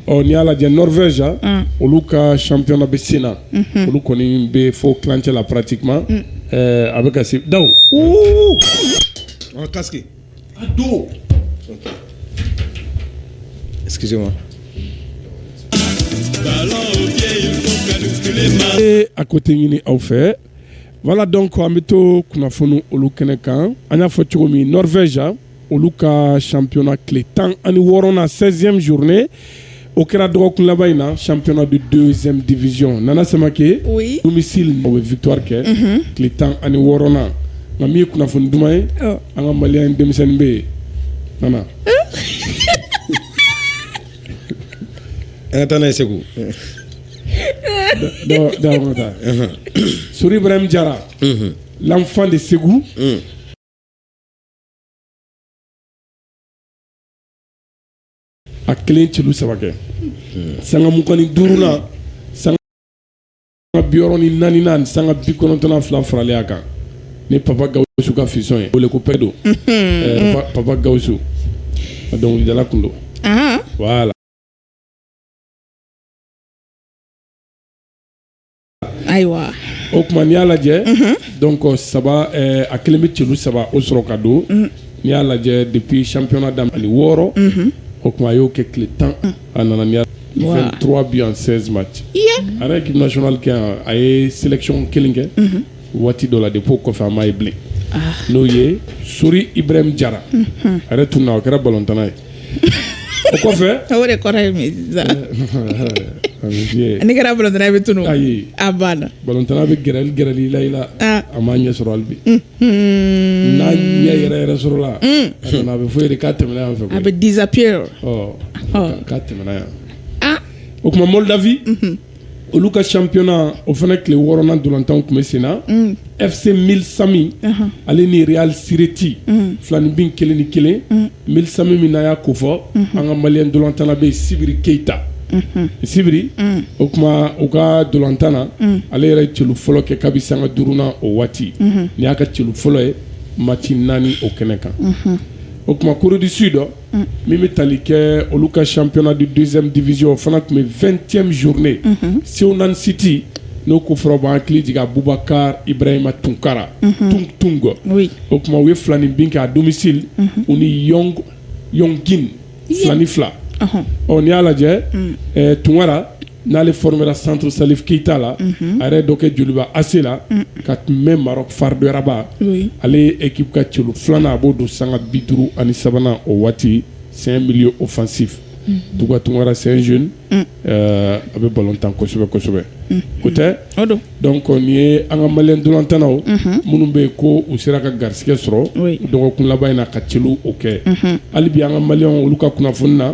ɔ n'i y'a lajɛ norvège mm. olu ka championnat bɛ sen na mhm. olu kɔni bɛ fo tilancɛ la pratiquement mm. eh, a bɛ ka se daw casque a don excusez moi e hakɛto ɲini aw fɛ voilà donc an bɛ to kunnafoni olu kɛnɛ kan an y'a fɔ cogo min norvège olu ka championnat tile tan ani wɔɔrɔnan 16e journée o kɛra dɔgɔkun laban in na championnat de deuxième division nana samake oui. domicile o bɛ victoire kɛ mm -hmm. tile tan ani wɔɔrɔnan nka min ye kunnafoni duman ye oh. an ka maliyɛn denmisɛnnin bɛ yen nana an ka taa n'o ye segu sori ibrahim jara mhm. l'enfant de segu mm. a kelen celu saba kɛ sanga mugan ni duurunan sanga biwɔɔrɔ ni naaninan ani sanga bikɔnɔntɔnnan fila faralen a kan ni papa gawusu ka fiston ye wele ko pɛ don Eh, pa- papa gawusu a dɔnkilidala kun don Ahan. voilà ayiwa o tuma n'i y'a lajɛ mhm. donc saba eh, a kelen bɛ celu saba o sɔrɔ ka don mhm. n'i y'a lajɛ depuis championnat daminɛ ani wɔɔrɔ mhm. o tuma a y'o kɛ tile tan a nana ni 23 buts en 16 match a yɛrɛ équipe nationale kɛ yan a ye sélection kelen kɛ waati dɔ la depuis o kɔfɛ an m'a ye bilen ah. n'o ye sori ibrahim jara a yɛrɛ tununna o kɛra balontanna ye o kɔfɛ o de kɔrɔ ye min sisan a bɛ fiyɛ n'i kɛra balontanna ye i bɛ tunun ayi a banna balontanna bɛ gɛrɛli gɛrɛli i la i la Ah. a m'a ɲɛ sɔrɔ hali bi n'a ɲɛ yɛrɛ yɛrɛ sɔrɔla a nana a bɛ fɔ i ye dɛ k'a tɛmɛna yan fɛ a bɛ koyi disappear ɔ Ɔ. k'a tɛmɛna yan ah o tuma moldavie olu ka championnat o fana tile wɔɔrɔnan ntolatanw tun bɛ sen na mm. fc milsami uh-huh. ale ni real sireti mm. filanibin kelen ni kelen mm. milsami mun na an y'a ko fɔ mm-hmm. an ka maliyɛn ntolatanna bɛ yen sibiri keita mm-hmm. sibiri o tuma u ka ntolatan na ale yɛrɛ celu fɔlɔ kɛ kabi sanga duurunan o waati mm-hmm. nin y'a ka celu fɔlɔ ye match naani o kɛnɛ kan o tuma corée du sud min bɛ tali kɛ olu ka siyɔnna de dɛsɛ dizy o fana tun bɛ fɛnɛn zourunnen segu naani siti n'o ko fɔra' hakili jigin a bubakari irahimahimayima tunkara tun tun kɔ o tuma u ye filan ni bin kɛ a donmisiri u ni filan ni fila ɔ ni y'a lajɛ tunkara n'ale formera centre Salif Keyita la a yɛrɛ dɔ kɛ joliba AC la ka tun bɛ Maroc FAR de Rabat ale ye équipe ka celu filanan a b'o don sanga bi duuru ani sabanan o waati c'est un milieu offensif Duga Tunkara c'est un jeune a bɛ balɔn tan kosɛbɛ kosɛbɛ o tɛ donc nin ye an ka maliyɛn ntolatannaw minnu bɛ yen ko u sera ka garisɛgɛ sɔrɔ dɔgɔkun laban in na ka celu o kɛ hali bi an ka maliyɛn olu ka kunnafoni na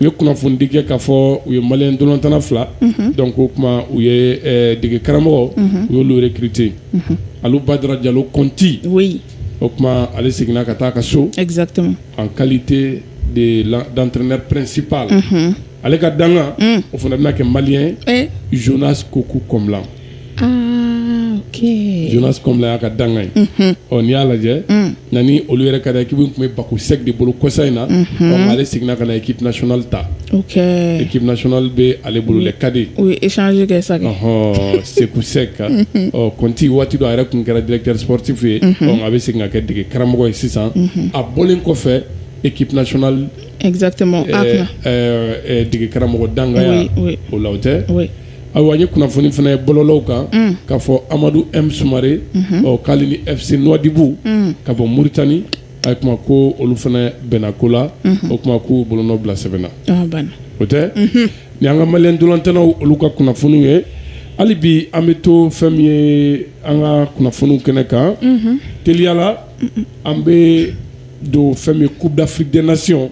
u ye kunnafonidi kɛ ka fɔ u ye maliyɛn ntolatanna fila donc o tuma u ye dege karamɔgɔ u y'olu recruté Alu Badara Jalo Kɔnti o tuma ale seginna ka taa ka so exactement en qualité de d'entraîneur principal ale ka dankan o fana bɛna kɛ malien Jonas Kokou Kɔmla jonas kɔmla y'a ka dankan ye ɔ n'i y'a lajɛ na ni olu yɛrɛ ka ekip tun bɛ Bako Seck de bolo kɔsa in na ɔ ale seginna ka na ekip nasionali ta ekip nasionali bɛ ale bolo dɛ cadet o ye échange kɛ sa ɔhɔn Seku Seck kan ɔ kɔnti waati dɔ a yɛrɛ tun kɛra directeur sportif ye ɔ a bɛ segin ka kɛ dege karamɔgɔ ye sisan a bɔlen kɔfɛ ekip nasionali exactement a kunna ɛɛ dege karamɔgɔ dankanya o la o tɛ ayiwa ne ye kunnafoni fana ye bɔlɔlɔw kan mm. k'a fɔ amadu m sumare mhm. ɔ k'ale ni fc Nouadhibou mm. ka bɔ muritani a kuma ko olu fana bɛnna ko la mhm. o kuma ko bolonɔ bila sɛbɛn na ah, o tɛ mhm. nin y'an ka maliyɛn ntolatannaw olu ka kunnafoniw ye hali bi an bɛ to fɛn min ye an ka kunnafoniw kɛnɛ kan teliya la an bɛ don fɛn min ye coupe d'afrique des nations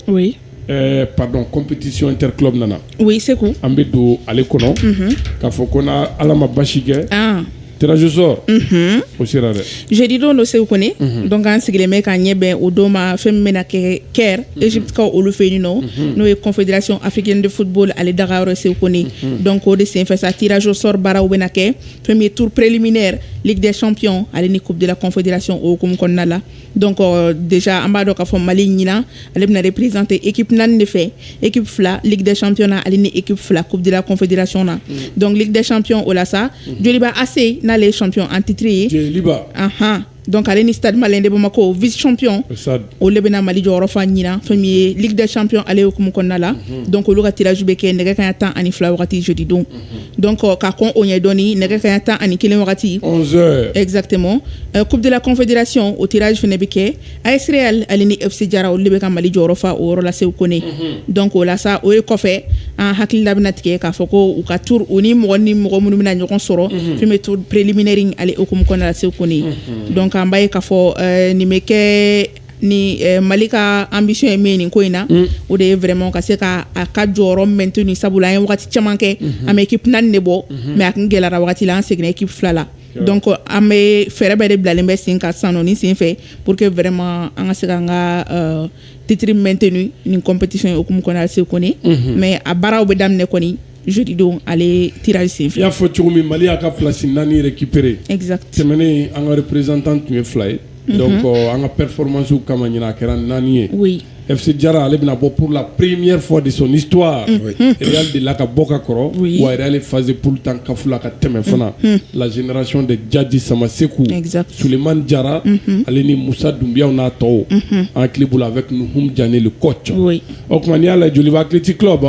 Ɛɛ pardon competition inter club nana, oui Seku, an bɛ don ale kɔnɔ, unhun, k'a fɔ ko n'Ala ma basi kɛ, an, tirage au sort unhun, o sera dɛ, jeudi don nɔ Seku Kone, unhun, donc an sigilen bɛ k'an ɲɛ bɛn o don ma fɛn min bɛna kɛ Caire Egypte kaw olu fɛ yen nɔ, unhun, n'o ye confederation africaine de football ale daga yɔrɔ ye Seku Kone, unhun, donc o de senfɛ sa tirage au sort baaraw bɛna kɛ fɛn min ye tour preliminaire ligue des champions ale ni coupe de la confederation o hukumu kɔnɔna la donc euh, déjà an b'a dɔn k'a fɔ mali ɲinan ale bɛna représenter équipe naani de fɛ équipe fila ligue des champions na ale ni équipe fila coupe de la confédération na mm. donc ligue des champions o la sa mm. joliba ac n'ale ye champion en titre ye joliba anhan donc ale ni stade malien de bamako vice champion o le bɛna mali jɔyɔrɔ fa ɲinan fɛn min ye ligue des champions ale hukumu kɔnɔna la mm-hmm. donc olu ka tirage bɛ kɛ nɛgɛ kaɲa tan ani fila wagati jeudi don mm-hmm. donc ka kɔn o ɲɛ dɔɔnin nɛgɛ kaɲa tan ani kelen wagati onze heures exactement coupe de la confédération o tirage fana bɛ kɛ AS Real ale ni FC Diarra olu de bɛ ka mali jɔyɔrɔ fa o yɔrɔ la Seku Kone donc o la sa o ye kɔfɛ an hakili la bɛna tigɛ k'a fɔ ko u ka tour u ni mɔgɔ ni mɔgɔ minnu bɛna ɲɔgɔn sɔrɔ fɛn min ye tour préliminaire ale hukumu kɔnɔna la Seku Kone donc an b'a ye k'a fɔ nin bɛ kɛ ni mali ka ambition ye min ye nin ko in na o de ye vraiment ka se ka a ka jɔyɔrɔ maintenu sabula an ye waati caman kɛ an bɛ équipe naani de bɔ mais a tun gɛlɛyara waati la an seginna équipe fila la donc an bɛ fɛɛrɛ bɛɛ de bilalen bɛ sen kan san nin sen fɛ pour que vraiment an ka se an ka titre maintenu ni compétition yekun kɔnɔ se kɔni mais a baaraw bɛ daminɛ kɔni jodidon ale kira sen y'a fɔ cogo min mali y'a ka plasi naani yɛrɛ kipere tɛmɛnen an ka prezantan tun ye fila ye dɔn kɔ an ka pɛrɛfmasiw kama ɲ a kɛra naani ye ɛ jara ale bɛna bɔ porola perereme fɔ de sɔn nit e de la ka bɔ ka kɔrɔ wa yɛrɛale fazse puru tan kafla ka tɛmɛ fana lazeranc de jaji sama segu suleman jara ale ni musa dunbiya n'a tɔ an ki bolo a bɛ tun jan kɔc o tuma y'a la joliba kiti kuloba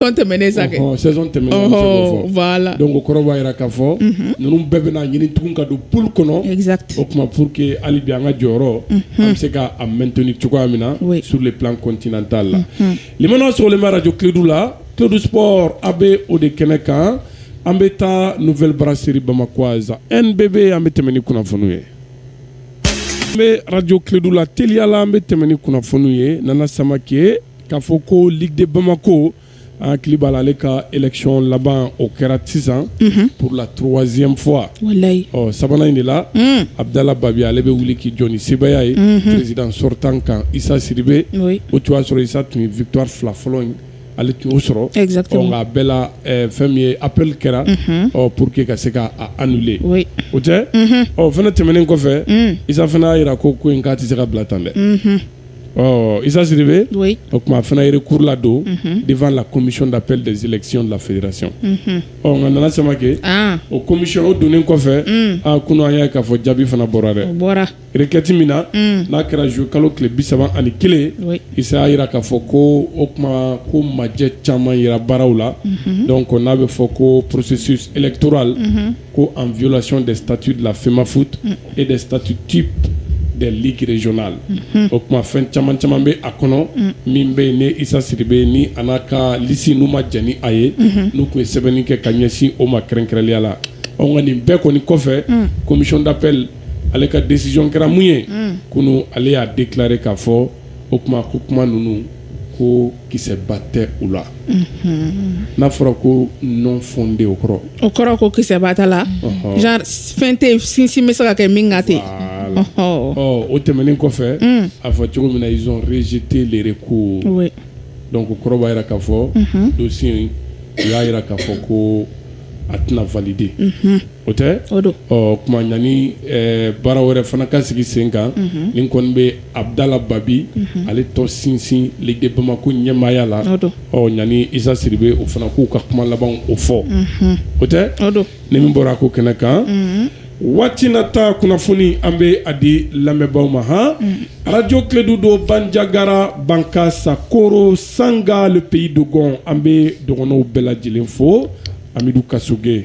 Saison tɛmɛnen sa kɛ. Ɔhɔn, saison tɛmɛnen an bɛ se k'o fɔ. Ɔhɔɔ, voilà donc o kɔrɔ b'a jira k'a fɔ, unhun, ninnu bɛɛ bɛna ɲini tugun ka don poule kɔnɔ, exact o tuma pour que hali bi an ka jɔyɔrɔ, unhun, an bɛ se k'a maintenu cogoya min na, oui, sur le plan continental la, unhun, lamɛnnaw sɔgɔlen bɛ radio Klédu la, Klédu Sport a bɛ o de kɛnɛ kan, an bɛ taa nouvelle brasserie Bamakoise NBB an bɛ tɛmɛ ni kunnafoniw ye, an bɛ radio Klédu la teliya la, an bɛ tɛmɛ ni kunnafoniw ye Nana Samake K'a fɔ ko ligue de bamako an hakili b'a la ale ka élection laban o kɛra sisan pour la troisième fois ɔ sabanan in de la abdallah babi ale bɛ wuli k'i jɔ ni sebaaya ye président sortant kan isa sidibe o tun y'a sɔrɔ isa tun ye victoire fila fɔlɔ in ale tun y'o sɔrɔ a bɛɛ la fɛn min ye appel kɛra pour que ka se k'a annuler o tɛ ɔ fana tɛmɛnen kɔfɛ isa fana y'a jira ko ko in k'a tɛ se ka bila tan dɛ Ɔ isa sidibe o tuma a fana ye recours ladon devant la commission d'appel des élections de la fédération ɔ nka nana samakɛ o commission o donnen kɔfɛ aa kunu an y'a ye k'a fɔ jaabi fana bɔra dɛ requête min na n'a kɛra juillet kalo tile bi saba ani kelen isa y'a jira k'a fɔ ko o tuma ko majɛ caman yera baaraw la donc n'a bɛ fɔ ko processus électoral ko en violation des statuts de la FEMAFOOT mm. et des statuts types des ligues régionales mm-hmm. o tuma fɛn caman caman bɛ a kɔnɔ mm. min bɛ yen ni Isa Sidibe ni a n'a ka liste n'u ma jɛn ni a ye mm-hmm. n'u tun ye sɛbɛnni kɛ ka ɲɛsin o ma kɛrɛnkɛrɛnnenya la ɔ nka nin bɛɛ kɔni kɔfɛ mm. commission d'appel ale ka décision kɛra mun ye kunu ale y'a déclarer k'a fɔ o tuma ko kuma ninnu ko kisɛba tɛ u la n'a fɔra ko non fondé o kɔrɔ o kɔrɔ ko kisɛba t'a la genre fɛn tɛ sinsin bɛ se ka kɛ min kan ten o tɛmɛnen kɔfɛ a fɔ cogo min na ils ont rejeté le recours donc o kɔrɔ b'a jira k'a fɔ dossier u y'a jira k'a fɔ ko a tɛna valide unhun o tɛ o don ɔɔ tuma yani ɛɛ baara wɛrɛ fana ka sigi sen kan unhun nin kɔni bɛ Abdala Babi unhun ale tɔ sinsin Ligue de Bamako ɲɛmaaya la o don ɔ yani Issa Sidibe o fana k'u ka kuma labanw o fɔ unhun o tɛ o don ni min bɔra a ko kɛnɛ kan unhun Waati nata kunnafoni an bɛ a di lamɛnbaw ma hɔn arajo Kledu don Banjagara Bankasi Koro Sanga pays dogon an bɛ dɔgɔnɔ bɛɛ lajɛlen fo Amidu Kasogɛ